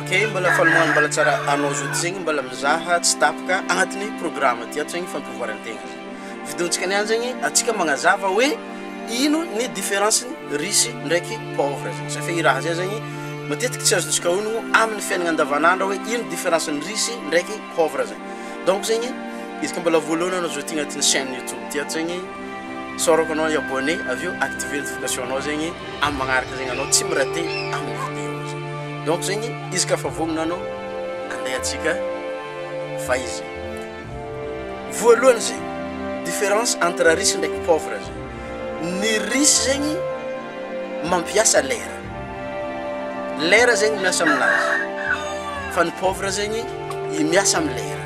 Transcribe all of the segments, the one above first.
Ok, mbala fanohano mbala tsara anao zao zegny mbala mizaha tsy tapaka agnatin'ny programme ty ato zegny fampivoaran-tegna vidéontsika niany zegny atsika magnazava hoe ino ny différence ny riche ndraiky pauvre zegny satria i raha zay zegny matetiky tsy azontsika onogno amin'ny fiainagna andavanandro hoe ino différence ny riche ndraiky pauvre zegny donc zegny izy koa mbala voalohany anao zao ty agnatin'ny chaine youtube ty ato zegny Isaorako anao ny abonné avy eo activer notification nao zegny am magnaraka zegny anao tsy mirate aminy vidéo izy donc zegny izy ka fa vogno anao andeha atsika fa izy voalohany ze difference entre riche ndraiky pauvre ze ny riche zegny mampiasa lera lera zegny miasa aminazy fa ny pauvre zegny i miasa am lera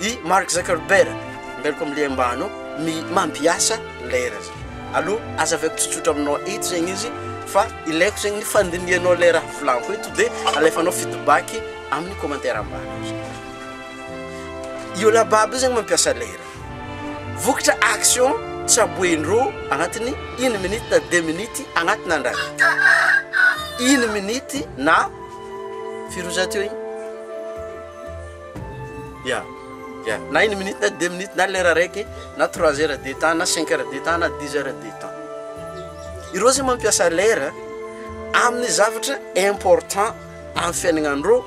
I Mark Zuckerberg, miaraka amin'ny liam-bano, mi- mampiasa lera izy. Aloha, aza avy ato tsotsotra aminao eto zegny izy, fa ilaiko zegny ny fandinihanao ilay raha volaniko eto, dia alefanao feedback amin'ny commentaire ambany aty. Io lababy io zegny mampiasa lera. Vokatra action tsaboen-drô agnatin'ny une minute na deux minutes agnatin'ny andra raiky. Une minute na, firy oa za teo igny? Ya, ya. Na une minute na deux minutes na lera araiky na trois heures de temps na cinq heures de temps na dix heures de temps. Ireo zay mampiasa lera amin'ny zavatra important amin'ny fiainagnandreo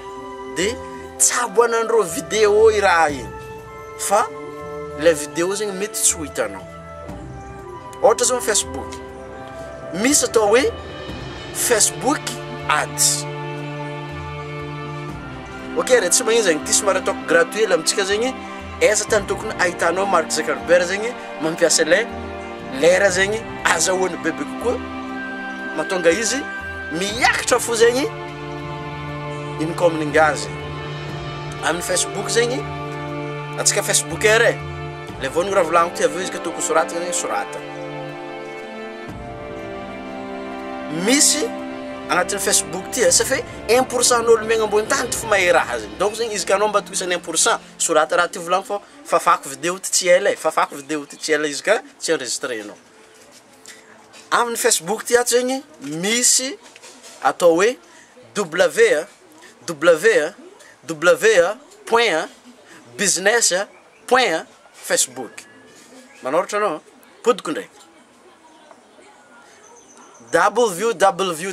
de tsaboanandreo vidéo i raha igny fa le vidéo zegny mety tsy ho hitanao. Ohatra zao ny Facebook, misy atao hoe Facebook ads, ok re tsy magnino zegny, ty somary ataoko gratuit la amintsika zegny, aiza tany tokony ahitanao Mark Zuckerberg zegny mampiasa le lera zegny azahoany bebe kokoa, mahatonga izy miakatra fo zegny income-ny ngazy amin'ny Facebook zegny, antsika Facebooker e. Ilay voaniny raha volagniko ty avy eo izy ka tokony ho soratana anie soratana. Misy agnatin'ny Facebook ty ça fait un pour cent an'ôlo miaigna ambony tany ty fo mahay raha zegny donc zegny izy ka anao mba tohisan'ny un pour cent sorata raha ty volagniko fô fafako video ty tsy ela e fafako video ty tsy ela izy ka tsy enregistrenao. Amin'ny Facebook ty ato zegny misy atao hoe W a W a W a point a business a. Point a, Facebook. Manoratra anao a. Podiko ndray. Www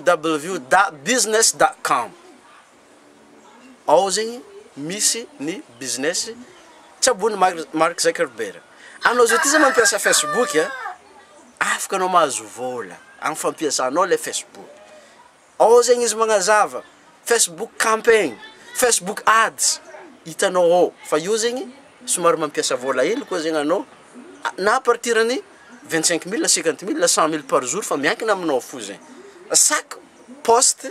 da business da com. Ao zegny misy ny business tsabony Mark Zuckerberg. Anao zao ty zany mampiasa Facebook a, afaka anao mahazo vôla am fampiasanao le Facebook. Ao zegny izy magnazava, Facebook campaign, Facebook ads, hitanao ao, fa io zegny somary mampiasa vôla hely koa zegny anao, na à partir ny vingt cinq mille, cinquante mille, cent mille par jour fa miankina aminao fo zegny, chaque poste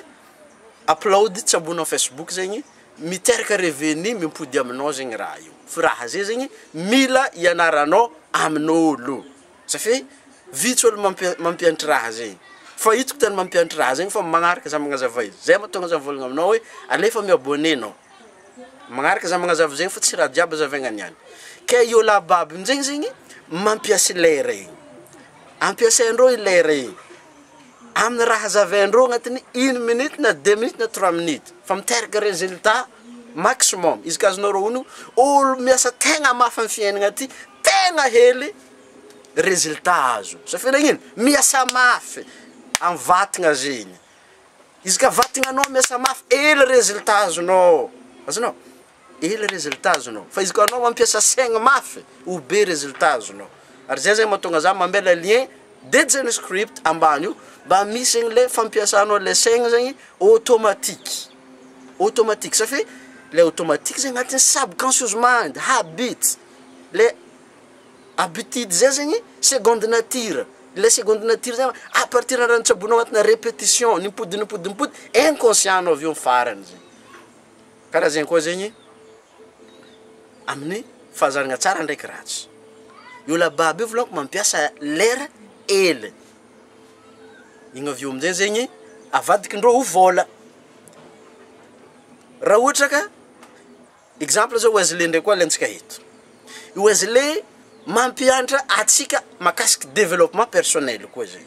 upload tsy ambony amin'ny Facebook zegny miteraka revenu mimpody aminao zegny raha io, firaha zay zegny mila hianaranao amin'ôlo. Za fe vitsy olo mampi- mampiantry raha zegny. Fa hitako tena mampiantry raha zegny fa magnaraka za magnazava izy. Zay mahatonga za mivôlagna aminao hoe alefa mi-abonné anao. Magnaraka za magnazava zegny fa tsy raha jiaby azavaigna niany. Ke i ôla babo aminjegny zegny mampiasa i lera igny. Ampiasain-drô i lera igny amin'ny raha hazavain-drô agnatin'ny une minute na deux minutes na trois minutes fa miteraka résultat maximum. Izy ka azonareo onogno, olo miasa tegna mafy amin'ny fiaignana ty tegna hely. resultat azo, zay firenena miasa mafy amin'ny vatagna zegny, izy ka vatagnanao miasa mafy ela resultat azonao, azonao? Ela resultat azonao, fa izy koa anao mampiasa saigny mafy ho be resultat azonao, ary zay zegny mahatonga zah mamela lien dejany script ambany io mba misy anle fampiasanao le saigny zegny automatique, automatique, safi- le automatique zegny agnatin'ny subconscious mind, habit, le Habitudes zay zegny seconde nature, ilay seconde nature zay à partir ny raha nitsaboanao anatinà répétition, ny mipody ny mipody ny mipody, inconscient-nao avy eo ny farany zay. Karaha zay koa zegny amin'ny fahazaragna tsara ndraiky ratsy, io lababy io vôlohany mampiasa lera hely, igny avy eo amin-jay zegny avadikin-dreo ho vôla, raha ohatra ka. Exemple zao Wesley ndray koa alentsika eto. I Wesley mampiantra atsika makasiky developpement personnel koa zay.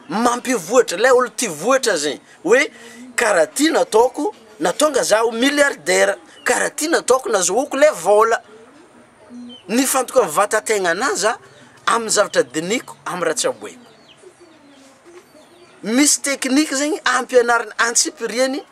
Mampivoatra, lay olo tia voatra zay. Hoe karaha ty nataoko natonga zaho milliardaire, karaha ty nataoko nazahoako le vola. Nifantoka am vatategnanah za am zavatra dinihiko am raha tsaboiko. Misy technique zegny ampianarina antsipiriany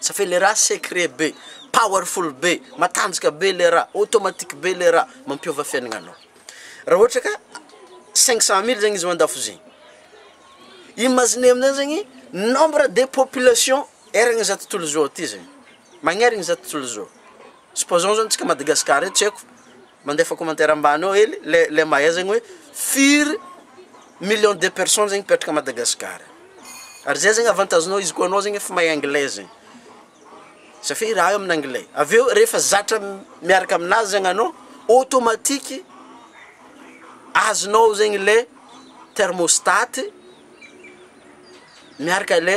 Ça fait le raha secret be, powerful be, matanjaka be le raha, automatique be le raha, mampiova fiaignanao. Raha ohatra ka cinq cent mille zegny izy ao an-dakozia, imaginez amin'izay zegny nombre de population eran'izao tontolo izao ty zegny, magnerigny zao tontolo izao. Supposons zao antsika Madagascar eto tsy haiko mandefa commentaire ambany ao hely le le mahay zegny hoe firy millions de personnes zegny mipetraka a Madagascar ary zay zegny avantage nao izy koa anao zegny efa mahay anglais zegny satria i raha io amin'ny anglais avy eo rehefa zatra miaraka aminazy zegny anao automatique azonao zegny le thermostat miaraka le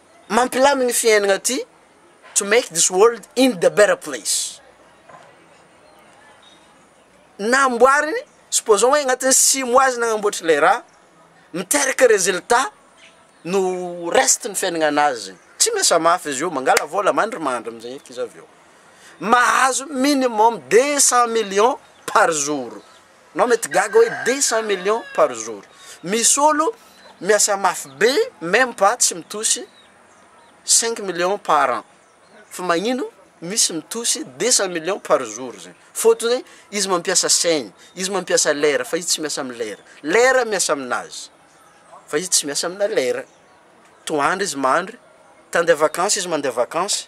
Mampilamina ity fiainana ity, to make this world in the better place. Namboariny, supposons hoe agnatin'ny six mois izy nagnamboatra ilay raha, miteraka résultat no reste ny fiainagnan'azy, tsy miasa mafy izy io, mangala vôla mandrimandry amizay eky izy avy eo, mahazo minimum deux cent millions par jour. Nao mety gaga hoe deux cent millions par jour. Misy olo miasa mafy be meme pas tsy mitosy cinq millions par an. Fa magnino misy mitosy deux cent millions par jour zegny. Faute hoe izy mampiasa saigny, izy mampiasa lera fa izy tsy miasa am lera. Lera miasa aminazy fa izy tsy miasa amina lera. Toandro izy mandry, te handeha vacances izy mandeha vacances.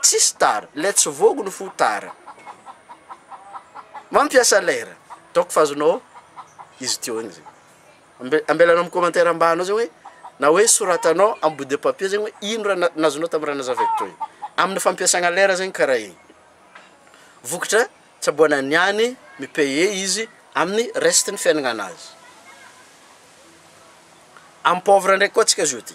Tsisy tara, let's vogue no fo tara mampiasa lera donc fa azonao izy teo igny zegny ambe- ambelanao am commentaire ambany ao zegny hoe na hoe soratanao am bout de papier zegny hoe ino raha na- nazonao tam raha nazavaiko teo igny amina fampiasagna lera zegny karaha igny vokatra tsaboana ny any mi payer izy aminy reste ny fiaignanazy am pauvre ndraiky koa tsika zao ty.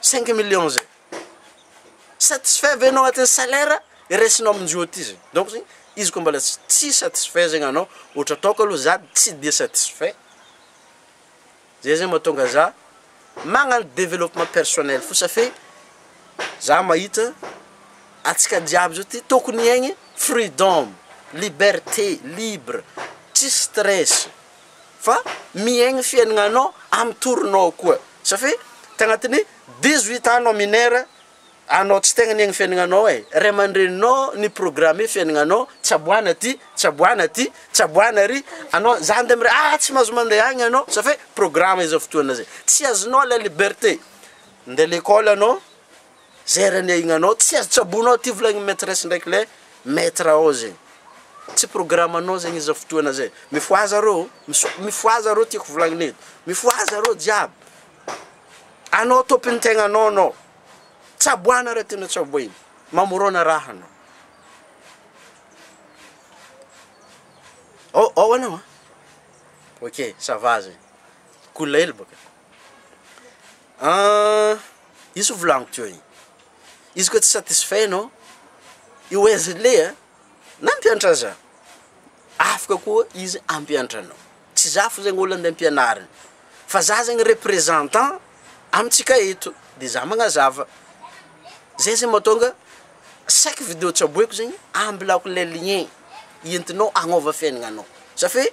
cinq millions zay, satisfait ve enao agnatin'ny salaire raisinao amin'izao aty zay, donc zany izy koa mbola tsy tsy satisfait zegny anao, ohatra ataoko aloha za tsy de satisfait, zay zegny mahatonga za magnagno developpement personnel fo safe za mahita antsika jiaby zao ty tokony hiaigny freedom, liberté, libre, tsisy stress. fa miaigny fiainagnanao amy torinao koa safia tagnatiny dix huit ans nao minera anao tsy tegna niaigny fiainagnanao e ray amandreninao ni programme fiainagnanao tsaboana ty tsaboana ty tsaboana ary anao za ande mire ah tsy mahazo mande agny anao safia programme izao fotoagna zay tsy azonao la liberté nde lekôly anao Zera anie igny anao tsy azo tsaboina ao ty volagniny maitresse ndraiky le maitre ao zegny tsy programme anao zegny izy zao fotoana zay mifohaza arô ô miso- mifohaza arô tiako volagniny eto mifohaza arô jiaby anao tôpiny tegnanao anao tsaboana raha tianao tsaboina mamorona raha anao ao ao anao an ok ça va zegny cool hely bôka. Ahh izy volaniko teo igny, izy koa tsy satisfait anao, io aiza le a, nampianatra za, afaka koa izy hampianatra anao, tsy za fo zegny olo ande ampianariny, fa za zegny representant amintsika eto, de za magnazava, zay zegny mahatonga chaque video tsaboiko zegny ambilako le lien entinao agnova fiaignananao, za fe.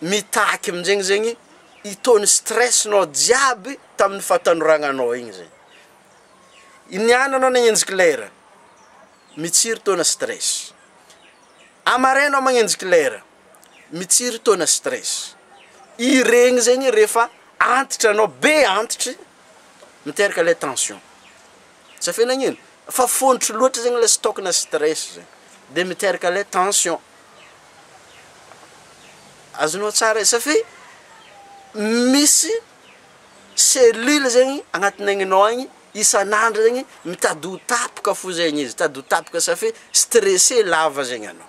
mitaky aminjegny zegny itony stress nao jiaby tamin'ny fahatanoragnanao igny zay, i niany anao nagnenjika lera mitsiry taona stress, a maraina magnenjika lera mitsiry taona stress, iregny zegny rehefa antitra anao be antitry miteraka le tension. Tsy afena agnino fa fôntry loatra zegny le stock na stress zegny de miteraka le tension. Azonao tsara e safi misy cellule zegny agnatin'ny aignanao agny isan'andro zegny mitady ho tapaka fô zegny izy, mitady ho tapaka safi stressé lava zegny anao.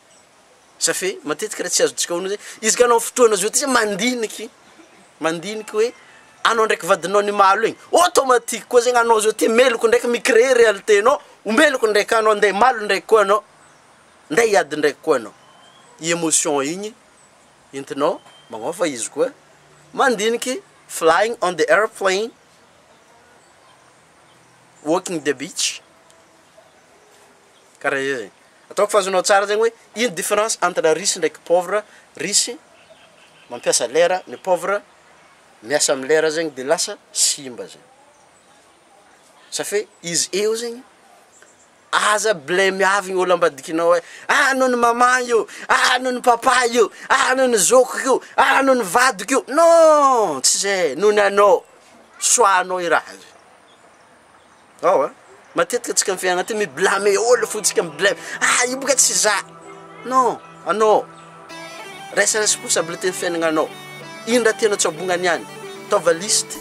Safe matetika tsy azontsika onony hoe izy ka anao fotoana zao ty mandiniky mandiniky hoe anao ndraiky vadinao ny malo igny automatique koa zegny anao zao ty meloko ndraiky mi-creer réalité nao ho meloko ndraiky anao nde malo ndraiky koa anao nde hiady ndraiky koa anao i emotion igny entinao magnôva izy koa mandiniky flying on the airplane walking the beach. Karaha zay zegny. Ataoko fa azonao tsara zegny hoe ino difference entre riche ndraiky pauvre, riche mampiasa lera, ny pauvre miasa amin'ny lera zegny de lasa simba zay. Sa fe izy eo zegny aza blemiavigny olo ambadikinao hoe ah anao ny maman io, ah anao ny papa io, ah anao ny zokiko io, ah anao ny vadiko io, non tsy zay, noho ny anao, soahanao i raha io. Ao a! Matetika antsika amin'ny fiainana ity mi-blâmer olona fotsika, mi-blame, ah io boka tsy za! Non! Anao! Raiso responsabilité ny fiainagnanao, ino raha tianao tsy abognany any? Ataova listy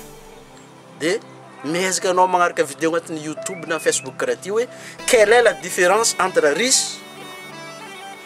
de miezaka anao magnaraka video agnatin'ny youtube na facebook karaha ty hoe quel est la difference entre riche.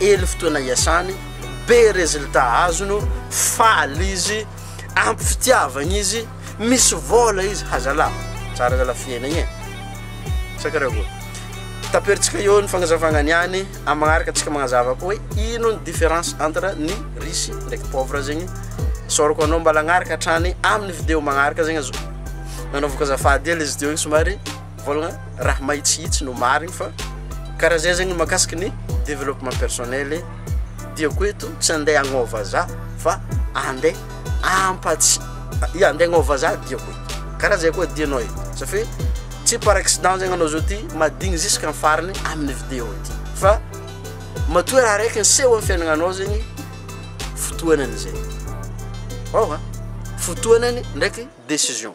Ely fotoana iasany, be résultat azony, faly izy, ampy fitiavana izy, misy vola izy, ha zala, tsara zala fiainagna e, sa karaha ahoana? Taperitsika eo ny fagnazavagna niany, amin'ny magnaraka antsika magnazava koa hoe ino ny différence entre ny riche ndraiky pauvre zegny, isaorako anao mba lagnaraka hatrany amin'ny vidéo magnaraka zegny azo nanaovako azafady hely izy teo igny somary. Voilà, raha mahitsihitsy no marigny fa karaha zay zegny makasiky ny développement personnel e, diako eto tsy ande agnao vazaha fa ande ampatsy ia ande agnao vazaha diako eto karaha zay koa dianao e ça fait tsy par accident zegny anao zao ty madigny jusque am farany aminy vidéo ty fa matoa raha raiky niseho am fiainagnanao zegny fotoanany zay ôha fotoanany ndraiky décision.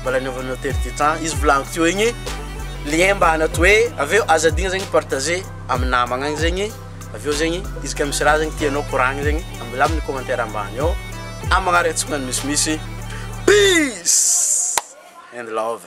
Mbola anaovanao telo du temps izy volagniko teo igny, lien mbana to hoe avy eo aza adigno zegny partager amin'ny namagna agny zegny, avy eo zegny izy ka misy raha zegny tianao koragny zegny ambilà amin'ny commentaire ambany ao, amin'ny magnaraka antsika ny misimisy, peace and love.